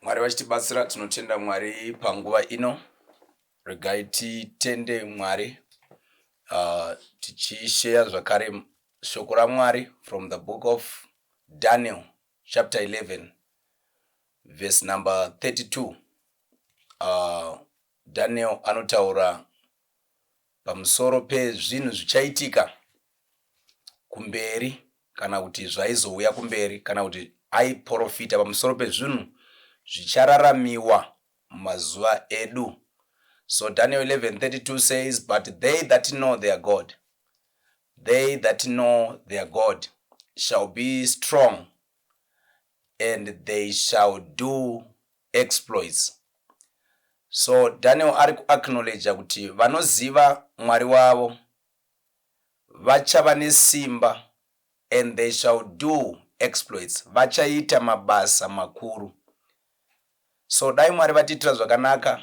Mwari vachitibatsira tinotenda Mwari panguva ino. Regai titende Mwari uh, tichisheya zvakare shoko raMwari from the book of Daniel chapter 11 verse number 32. Uh, Daniel anotaura pamusoro pezvinhu zvichaitika kumberi kana kuti zvaizouya kumberi kana kuti aiprofita pamusoro pezvinhu zvichararamiwa mumazuva edu so daniel 11:32 says but they that know their god they that know their god shall be strong and they shall do exploits. So Daniel ari kuacknowledger kuti vanoziva Mwari wavo vachava nesimba and they shall do exploits, vachaita mabasa makuru. So dai Mwari vatiitira zvakanaka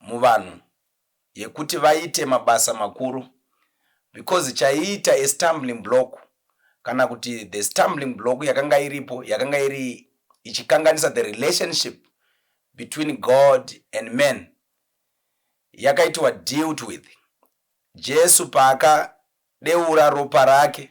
muvanhu yekuti vaite mabasa makuru because chaiita a stumbling block kana kuti the stumbling block yakanga iripo yakanga iri ichikanganisa the relationship between God and man yakaitwa dealt with Jesu paakadeura ropa rake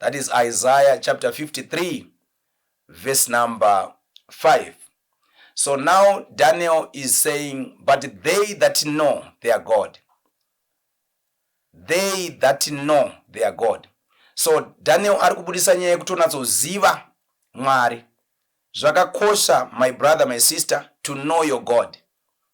That is Isaiah chapter 53 verse number 5. So now Daniel is saying, But they that know their God, they that know their God. So Daniel ari kubudisa nyaya yekuti unatsoziva Mwari. Zvakakosha, my brother, my sister, to know your God.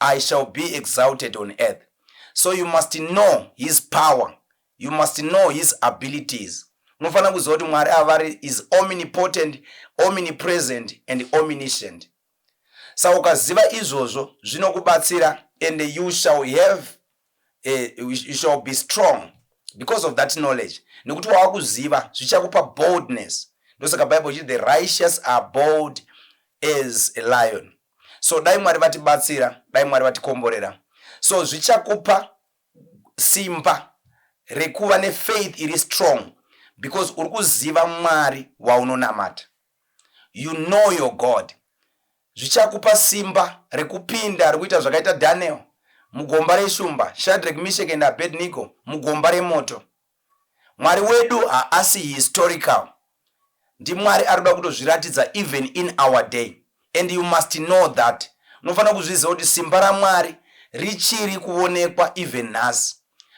I shall be exalted on earth so you must know his power you must know his abilities unofanira kuziva kuti mwari ava vari is omnipotent omnipresent and omniscient sa ukaziva izvozvo zvinokubatsira and you shall have eh, you shall be strong because of that knowledge nekuti wava kuziva zvichakupa boldness ndosaka bible chiti the righteous are bold as a lion so dai mwari vatibatsira dai mwari vatikomborera so zvichakupa simba rekuva nefaith iri strong because uri kuziva mwari waunonamata you know your god zvichakupa simba rekupinda rekuita zvakaita daniel mugomba reshumba shadrek mishek and abednigo mugomba remoto Mwari wedu haasi historical ndiMwari arikuda kutozviratidza even in our day and you must know that unofanira kuzviziva kuti simba raMwari richiri kuonekwa even nhasi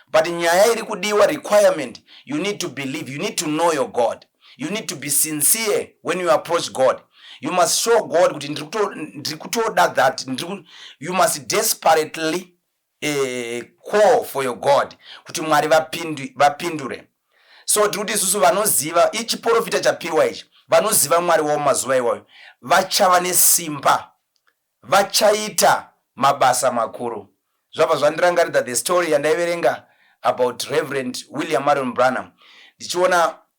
but nyaya iri kudiwa requirement you need to believe you need to know your God you need to be sincere when you approach God you must show God kuti ndiri kutoda that you must desperately a call for your God kuti Mwari vapindi, vapindure. So tiri kuti isusu vanoziva ichiporofita chapiwa ichi, vanoziva Mwari wavo mazuva iwayo vachava nesimba, vachaita mabasa makuru. Zvabva zvandirangaridza the story yandaiverenga about Reverend William Marion Branham ndichiona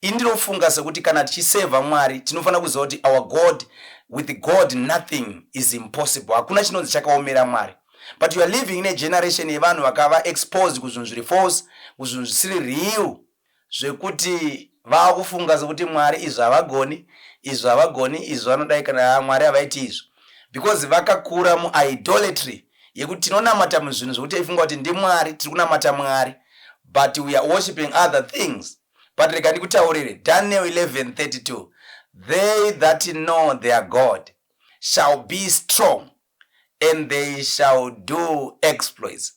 Ini ndinofunga sekuti kana tichiserver Mwari tinofanira kuziva kuti our God with God nothing is impossible hakuna chinonzi chakaomera Mwari but you are living in a generation yevanhu vakava exposed kuzvinhu zviri false kuzvinhu zvisiri real zvekuti vava kufunga sekuti Mwari izvi havagoni izvi havagoni izvi vanodai kana Mwari havaiti izvi because vakakura muidolatry yekuti tinonamata muzvinhu zvekuti taifunga kuti ndimwari tiri kunamata mwari but we are worshiping other things but rega ndikutaurire daniel 1132 they that know their god shall be strong and they shall do exploits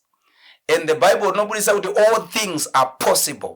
and the bible rinobudisa kuti all things are possible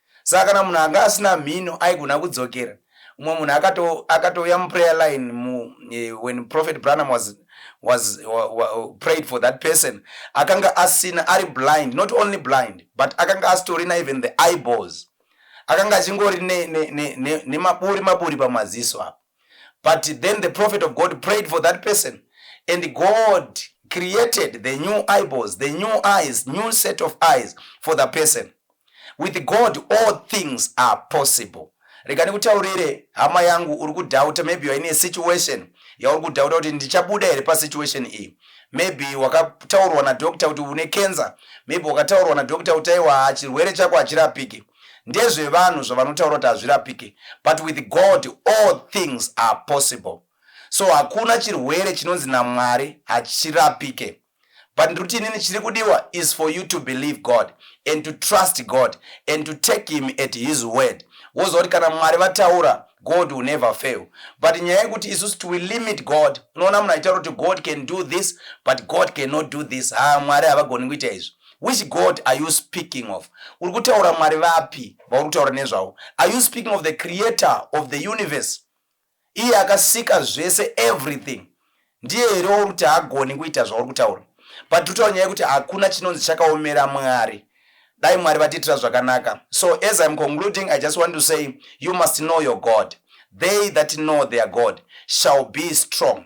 saka kana munhu anga asina mhino aigona kudzokera umwe munhu akatouya akato muprayer line mu, eh, when prophet branham was, was wa, wa, prayed for that person akanga asina ari blind not only blind but akanga asitorina even the eyeballs akanga achingori nemaburi ne, ne, ne, maburi pamaziso apo but then the prophet of God prayed for that person and God created the new eyeballs, the new eyes, new set of eyes for the person. With God all things are possible. rega ndikutaurire hama yangu uri kudhauta maybe you're in a situation yauri kudhauta kuti ndichabuda here pasituation iyi maybe wakataurwa nadoctor kuti une cancer maybe wakataurwa nadoctor kuti aiwa chirwere chako hachirapiki ndezvevanhu zvavanotaura kuti hazvirapike but with God all things are possible so hakuna chirwere chinonzi naMwari hachirapike but ndiri kuti inini chiri kudiwa is for you to believe God and to trust God and to take him at his word woziva kuti kana Mwari vataura God will never fail but nyaya yekuti isusu to limit God unoona munhu achitaura kuti God can do this but God cannot do this haa Mwari havagoni kuita izvi Which God are you speaking of? Uri kutaura Mwari vapi vauri kutaura nezvavo? Are you speaking of the creator of the universe? Iye akasika zvese everything. Ndiye here wauri kuti haagoni kuita zvauri kutaura? But tutaura nyaya yekuti hakuna chinonzi chakaomera Mwari. Dai Mwari vatiitira zvakanaka. So as I'm concluding, I just want to say you must know your God. They that know their God shall be strong.